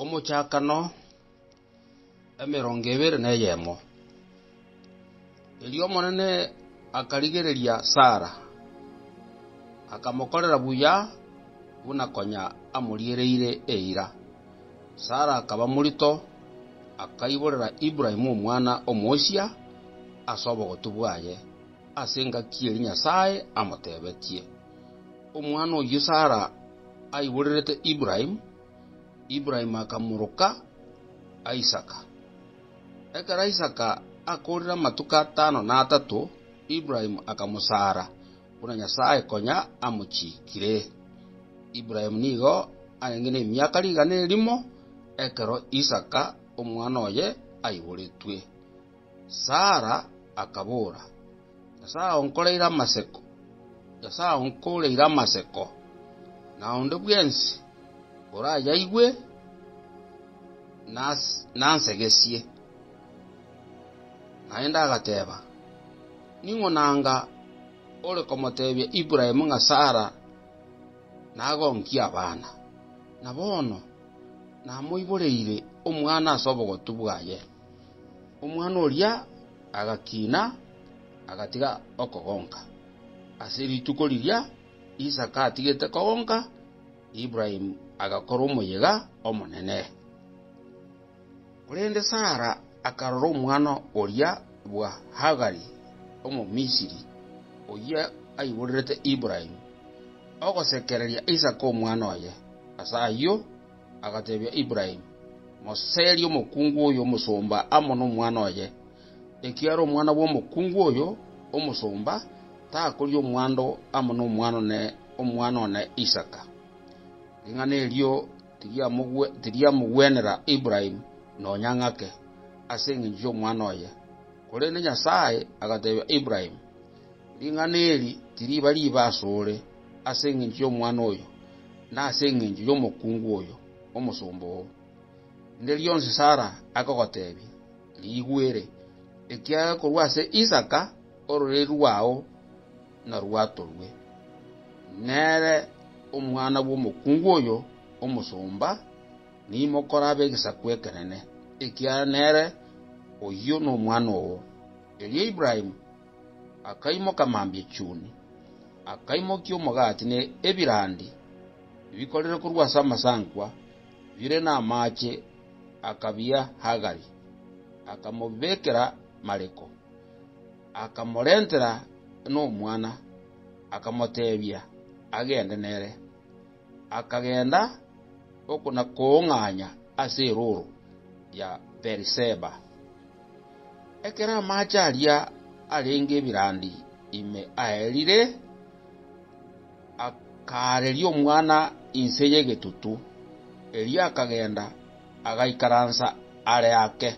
Omochakano emerongo ebere na eyemo. Erio Omonene akarigereria Sara, akamokorera buya buna konya amoriereire eira. Sara akaba morito, akaiborera Ibrahimu omwana omochia ase obogotu bwaye, ase engaki eria Nyasae amotebetie. Omwana oyio Sara aiborerete Ibrahimu, Ibrahimu akamoroka Isaka. Ekero Isaka akoorire amatuko atano na atato, Ibrahimu akamosaara, buna Nyasae konya amochiikire. Ibrahimu nigo arenge nemiaka rigana erimo ekero Isaka omwana oye aiboretwe. Sara akabora, Nyasae aonkoreire amasiko, Nyasae aonkoreire amasiko, na onde bwensi orayaigwe nansegesie. Naende agateba, Ning'o nanga ore komotebia Ibrahimu ng'a Sara nagonkie abana? Na bono namoiboreire omwana ase obogotu bwaye. Omwana oria agakiina, agatiga okogonka. Ase rituko riria Isaka atigete kogonka, Ibrahimu agakorwa omoyega omonene. Korende Sara akarora omwana oria bwa Hagari Omomisiri, oyio aiborerete Ibrahimu ogosekereria Isaka omwana oye. Ase ayio Agatebia Ibrahimu, Moserie omokungu oyo omosomba amo nomwana oye, ekiagera omwana bw'omokungu oyo omosomba takoria omwando amo nomwana one, omwana one Isaka. Ring'ana erio tiriamogwenera Ibrahimu nonya ng'ake, ase engencho y'omwana oye. Korende Nyasae agatebia Ibrahimu, Ring'ana eri tiriba ribe asore. ase engencho y'omwana oyo, na ase engencho y'omokungu oyo, omosomba oo. Rinde rionsi Sara akogotebia, Rigwere, ekiagera korwa ase Isaka ororeri rwao narwatorwe, nere omwana bw'omokungu oyo omosomba, nimokore abe egesaku ekenene, ekiagera nere oyio nomwana oo. Erio Ibrahimu akaimoka mambia chuni, akaimokia omogati ne ebirandi ebikorire korwa ase amasankwa bire namaache, akabia Hagari, akamobekera Mariko. Akamorentera nomwana, akamoteebia agende nere. akagenda okona-koong'anya ase erooro ya Beeriseba. Ekero amaache aria arenge ebirandi ime aerire, akaareria omwana inse y'egetutu, erio akagenda agaikaransa are ake,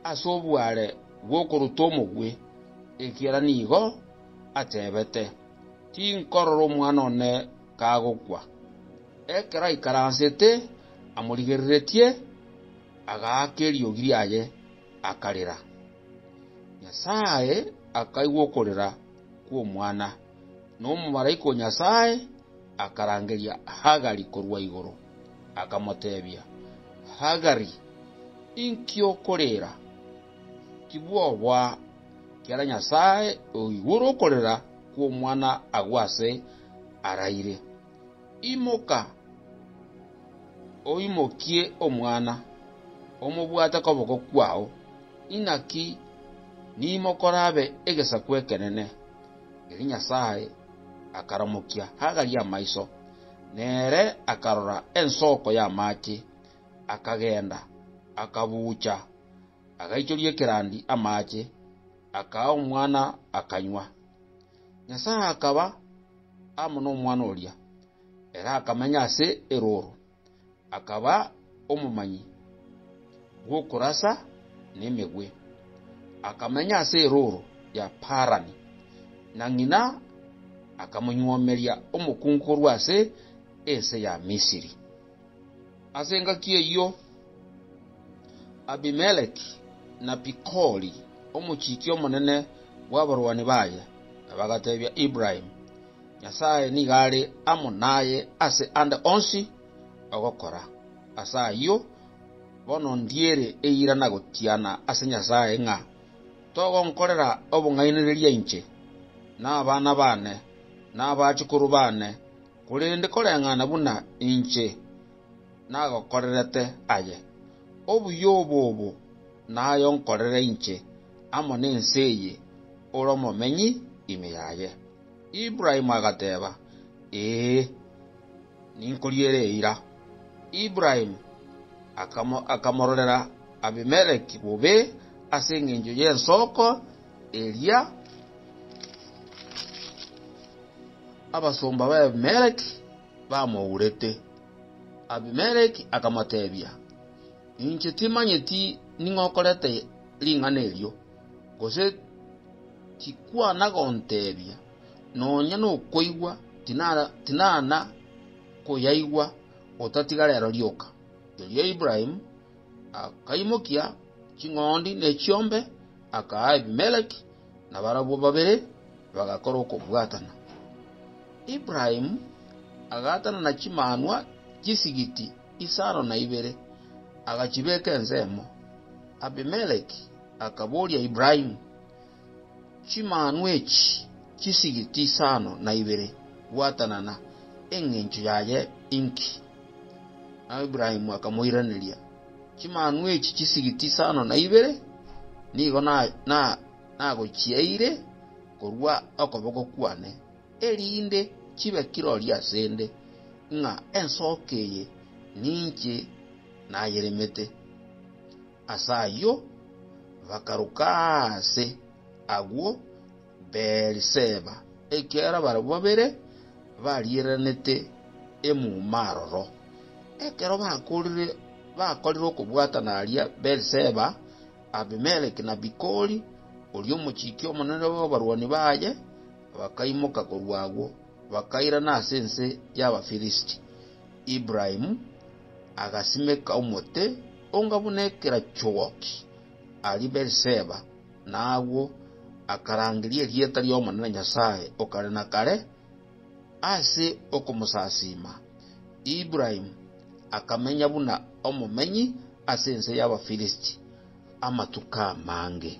ase obware bw'okoruta omobwe, ekiagera nigo atebete, Tinkorora omwana one kagokwa. Ekero aikaransete amorigereretie, agaaka eriogi riaye, akarera. Nyasae akaigwa okorera kw'omwana, na omomalaika o Nyasae akarangeria Hagari korwa igoro, akamoteebia, Hagari, inki okorera? Tibwoboa, ekiagera Nyasae oigure okorera kw'omwana agwo ase araire, Imoka, oimokie omwana, omobwate koboko kwao, inaki niimoke orabe egesaku ekenene. Erio Nyasae akaramokia Hagari amaiso, na ere akarora ensoko y'amaache, akagenda, akabuucha, agaichoria ekerandi amaache, akaa omwana, akanywa. Nyasae akaba amo nomwana oria, ere akamenya ase erooro, akaba omomanyi bw'okorasa nemegwe. Akamenya ase erooro ya Parani, na ng'ina akamonyuomeria omokungu korwa ase ense ya Misiri. Ase engaki eyio Abimeleki na Pikoli, omochiiki omonene bw'abarwani baye, bagateebia Ibrahimu, Nyasae nigo are amo naye ase ande onsi ogokora. Ase ayio bono ndiire eira na gotiana ase Nyasae ng'a togonkorera obong'ainereria inche, na abana baane, na abachukuru baane, Korende koreng'ana buna inche nagokorerete aye, obuya obo obo naye onkorere inche amo nense eye ore omomenyi ime yaye. Ibrahimu agateba, Ee, ninkoriere eira. Ibrahimu akamororera Abimeleki bobe ase engencho y'ensoko, Eria abasomba b'Abimeleki bamourete. Abimeleki akamoteebia, Inche timanyeti ning'o okorete ring'ana erio, gose tikwana gonteebia, nonya nokoigwa tinana koyaigwa otatiga reero rioka. Erio Ibrahimu akaimokia ching'ondi ne chiombe, Akaa Abimeleki nabarabwo babere, bagakora okobwatana. Ibrahimu agaatana na chimanwa chisigiti isano na ibere, agachibeka ensemo. Abimeleki akaboria Ibrahimu, Chimanwa echi chisigiti isano na ibere gwatanana engencho yaye inki? Nao Ibrahimu akamoiraneria, Chimanu echi chisigi tisano na ibere nigo nagochiaeire korwa okoboko kwane, erinde chibe kirori asende ng'a ensooka eye ninche nayeremete. Ase ayio bakaroka aase agwo Beeriseba, ekiagera barabwo babere bariiranete emuma aroro. Ekero bakoorire bakorire okobwatana aria Beeriseba, Abimeleki na Bikoli, oria omochiki omonene bw'abarwani baye, bakaimoka korwa agwo, bakairana ase ense y'Abafilisti. Ibrahimu agasimeka omote onga buna ekerachogoki aria Beeriseba, na agwo akarangeria erieta ri'Omonene Nyasae o kare na kare. Ase okomosasiima, Ibrahimu akamenya buna omomenyi ase ense y'Abafilisti amatuko amange.